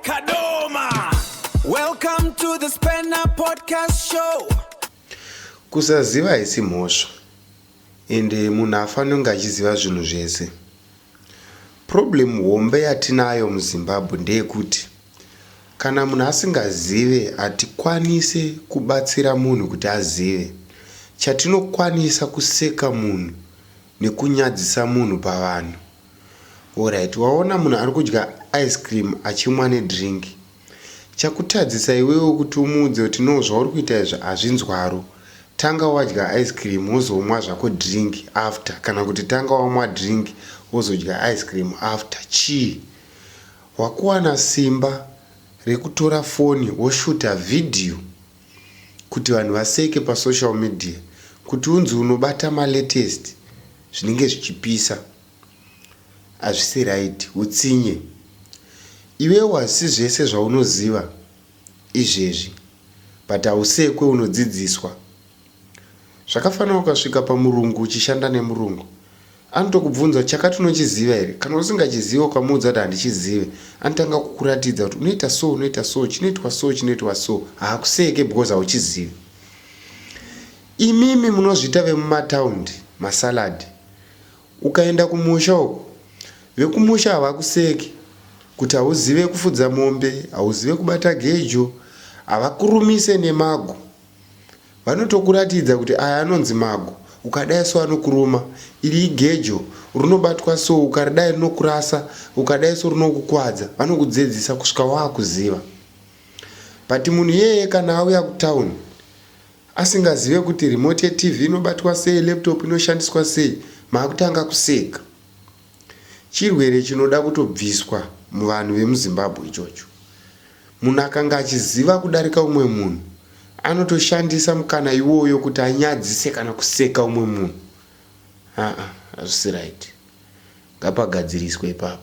Kadoma! Welcome to the Spanner Podcast Show. Kusaziva haisi mhosva ende munhu afanonge achiziva zvinhu zvese. Problem hombe yatinayo muZimbabwe ndeyekuti kana munhu asingazive hatikwanise kubatsira munhu kuti azive. Chatinokwanisa kuseka munhu nekunyadzisa munhu pavanhu. Horaiti waona munhu ari kudya ice cream achimwa nedrink chakutadzisa iwewe kuti umuudze kuti no zvauri kuita izvi hazvinzwaro tanga wadya ice cream wozomwa zvako drink after kana kuti tanga wamwa drink wozodya ice cream after chii wakuwana simba rekutora foni woshuta vhidhiyo kuti vanhu vaseke pa social media kuti unzi unobata ma latest zvinenge zvichipisa hazvisi right hutsinye iwewe hazvisi zvese zvaunoziva izvezvi but hausekwe unodzidziswa zvakafanira ukasvika pamurungu uchishanda nemurungu Anotokubvunza chakati unochiziva here? Kana usingachizive ukamuudza kuti handichizive anotanga kukuratidza kuti unoita so unoita so chinoitwa so chinoitwa so haakuseke because hauchizivi. Imimi munozviita vemumataundi masalad ukaenda kumusha uko vekumusha havakuseki kuti hauzive kufudza mombe hauzive kubata gejo havakurumise nemago Vanotokuratidza kuti aya anonzi mago ukadai so anokuruma, iri igejo rinobatwa so ukaridai rinokurasa, ukadai so rinokukwadza, vanokudzedzisa kusvika wakuziva. But munhu iyeye kana auya kutown asingazive kuti remote yeTV inobatwa sei, laptop inoshandiswa sei, makutanga kuseka. Chirwere chinoda kutobviswa muvanhu vemuZimbabwe ichocho. Munhu akanga achiziva kudarika umwe munhu anotoshandisa mukana iwoyo kuti anyadzise kana kuseka umwe munhu. Haa hazvisi right. Ngapagadziriswe ipapo.